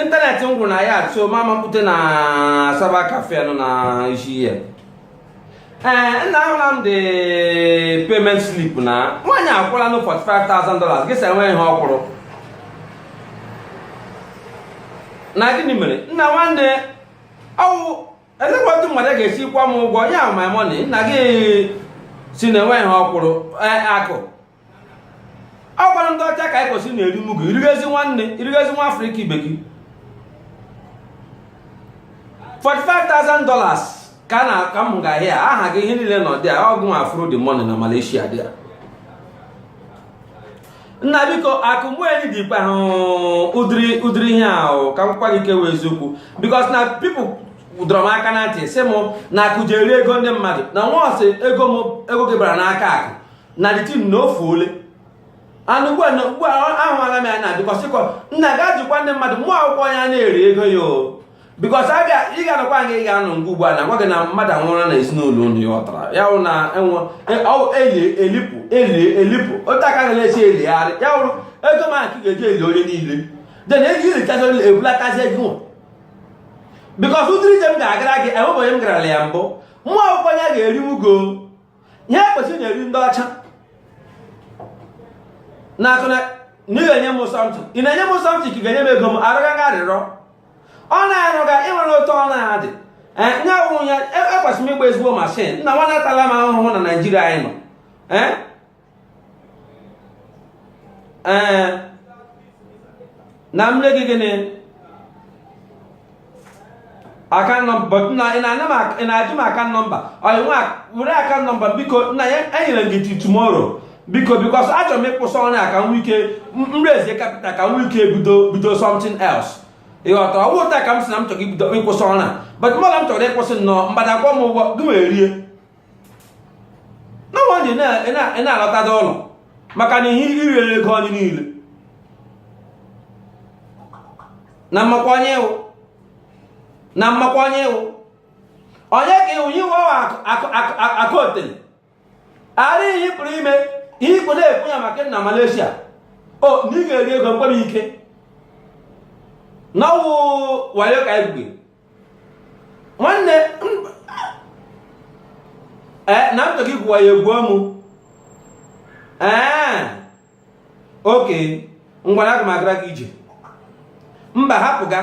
ịntanetị m gwụrụ na ya so m amapute na cyber cafe nọ na isi here ee eh, nna ahụla m the payment slip na nwaanyị akwụla nụ 45,000 dollars gị sị enwe ihe ọ kwụrụ na gịnị mere nna nwanne ọ wụ elekwa otu mmadụ ga-esi kwụọ m ụgwọ ya my money nna gị sị na enweghị ihe ọ kwụrụ e, akụ ọ kwanụ ndị ọcha ka anyị kwesịrị na-eri mugu i rigezi nwanne i rigezi nwa afrịka ibe gị 45,000 dollars ka na ka m ga-ahịa ya aha gị ihe niile nọ there ọ gị wefụrụ the money na malaysia there nna biko akụ mgbeeli dị ikpe ahụ ụdịrị ụdịrị ihe ahụ ka m gwa gị kwuwe eziokwu because na people dọrọ m aka na ntị sị m na akụ ji eri ego ndị mmadụ na once ego m ego gị bara n'aka akụ na the thing na ofuole and ugbu a na ugbu a ahụala m ya na because kọ nna gaa jụkwa ndị mmadụ mụọ akwụkwọ ya na-eri ego ya o because a ga ị ga-anọkwa nga ị ga-anọ nke ugbu a a gwa gị na mmadụ anwụrụ na ezinụlọ unu ya ọtara ya wụ na enwe eli elipụ eli elipụ otu a ka ga na-esi eligharị ya wụrụ ego m a ka ị ga-eji eli onye niile then eji elichazi onye ebulatazi ego nwa because ụdịrị ije m ga-agara gị enwebeghị onye m garala ya mbụ mụọ akwụkwọ ya ga-eri mugu ihe ekwesịrị na-eri ndị ọcha na-akọ na ị ga-enye m something ị na-enye m something ka ị ga-enye m ego m arịọgaghị arịrịọ ọ na-arụga i nwere otu ọ na-adị nye awụ ya ekwesịrị m ịgba ezigbo mashin nna nwanne atala m ahụhụ na naijiria anyị nọ ee na m nye gị gịnị account number na ị na-ajụ m account number oya ngwa were account number biko nna ya enyere gị till tomorrow biko because achọrọ m ịkwụsị ọrụ a ka m nwee ike raise capital ka m nwee ike bido bido something else ị ghọta ọ wụ otu a ka m si na m chọrọ ibido ịkwụsị ọrụ a but mmadụ m chọrọ ịkwụsị nnọọ mgbada akwụọ m ụgwọ gị wee rie no wonder ị na-alọtada ụlọ maka na ihe i riri ego anyị niile na m makwa onye ị wụ na m makwa onye ị wụ onye ka ị wụ iwe akụ otele ara ihe ị pụrụ ime ihe ikwu na-ekwu ya maka na Malaysia o na ị ga-eri ego m kpọrọ ike na ọ wụ wayo ka egwugwe nwanne ee eh, na ntọ gị gwu wayo egwuo mụ ee eh, okay ngwanụ aga m agara gị ije mba hapụ ịga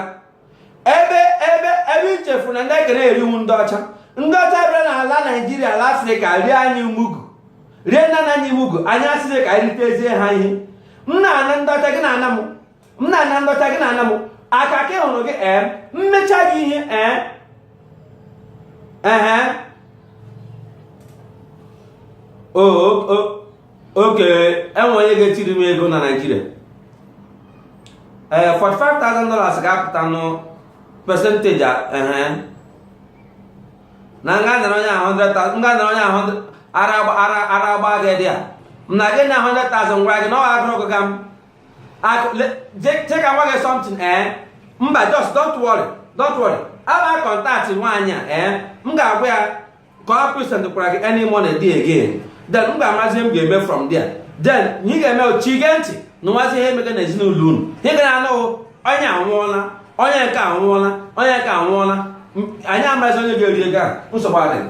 ebe ebe ebe i chefu na ndị a ka na-eri wụ ndị ọcha ndị ọcha bịara n'ala naijiria ala afrịka rie anyị mugu rie nna nna anyị mugu anyị asịrị ka anyị ritezie ha ihe m na-ana ndị ọcha gị na-ana m m na-ana ndọcha gị na-ana m aka ka hụrụ gị ee m mecha gị ihe ee ehe okay e nwee onye ga-etiri m ego na naijiria ee 45,000 dollars ga-apụta nụ percentage ehe na m ga-anara onye ahụ 100,000 m ga-anara onye ahụ ara agba gị there m na gị na 100,000 gwara gị na ọ ga-agụrụ gị ga m je ka m gwa gị something ee eh? mba just don't worry don't worry I'll contact nwaanyị a ee eh? m ga-agwa ya ka ọ present kwara gị any money dị again then m ga-amazi ihe m ga-eme from there then ị ga-emechi gee ntị nụwazie ihe emega na ezinụlọ unu ị ga na-anụ onye anwụọla onye nke anwụọla onye nke anwụọla anyị amaghịzi onye ga-eri ego a nsogbu adịghị